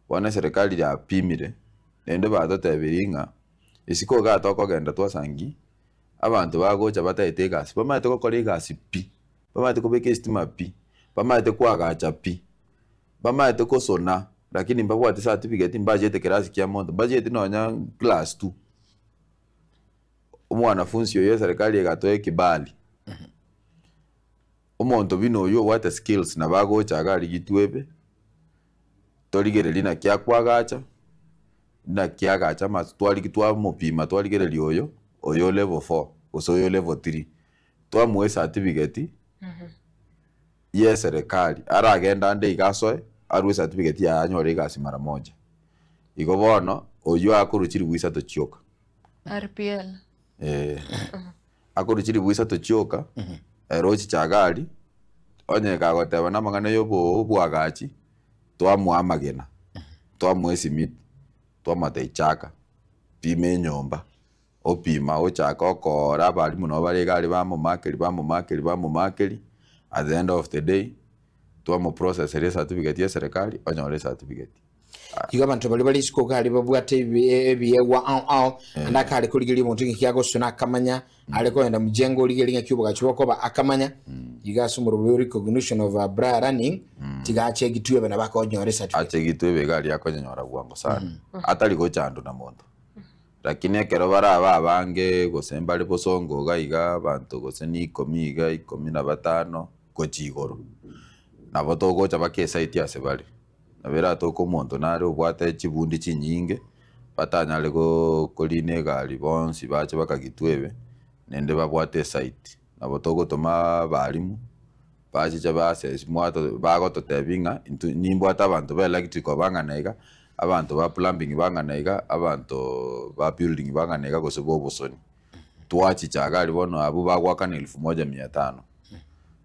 Bono eserekari yapimire, naende batotebirie ng'a isiko igaa tokogenda twasangi abanto bagocha bataete egasi, bamaete gokora egasi pi, bamaete kobeka esitima pi, bamaete kwagacha pi, bamaete kosona lakini mbabwati certificate, mbachete class kia monto, mbacheti nonya class two. Omwanafunsi oyo eserekari egatoa ekebali. Omonto buna oyio obwate skills nabo agocha iga arigitwe ebe, torigereria naki akoagacha, naki agacha amato twarigi twamopima twarigereria oyo, oyo o level four gose oyo o level three, twamoa esatifigeti ya eserekari aragende ande iga asoe arwe esatifigeti yaye anyore egasi mara moja. Igo bono oyio akorwa chiribu isato chioka. RPL. Eh, akorwa chiribu isato chioka, ero ochicha gari, onye kagoteba namang'ana ya obo- oboagachi, twamoa amagena, twamoa esimiti, twamoteba ichaka, pima enyomba, opima ochaka okoora abarimu nabo bare igari bamomakeri bamomakeri bamomakeri, at the end of the day, twamoprosesera ecertificate ya eserekari, onyore ecertificate. Igo abanto baria bare isiko kare babwate ebi- e- ebiegwa ao ao ande akare korigeria omonto ng'eki agosio na akamanya are kogenda mujengo origerie ng'aki obogachi bokoba akamanya igo ase omorobe o recognition of a bra running tiga achegitwe ebe nabo akonyora esatifiketi achegitwe ebe iga aria akonyora bwango sana atari gochandwa na monto lakini ekero baraba abange gose mbare bosongo iga iga abanto gose na ikomi iga ikomi na batano gochia igoro nabo togocha baka esaiti ase bare Nabo eratoke omonto nare obwate chibundi chinyinge, batanyare koriina egari, bonsi bache bakagitwebe, naende babwate esite. Nabo togotoma abalimu, bachiche baasesi, bagototebia ng'a intwe nimbwate abanto ba electrical bang'ana iga, abanto ba plumbing bang'ana iga, abanto ba building bang'ana iga gose ba obosoni. Twachicha iga aria bono abwo bagoakana elfu moja mia tano.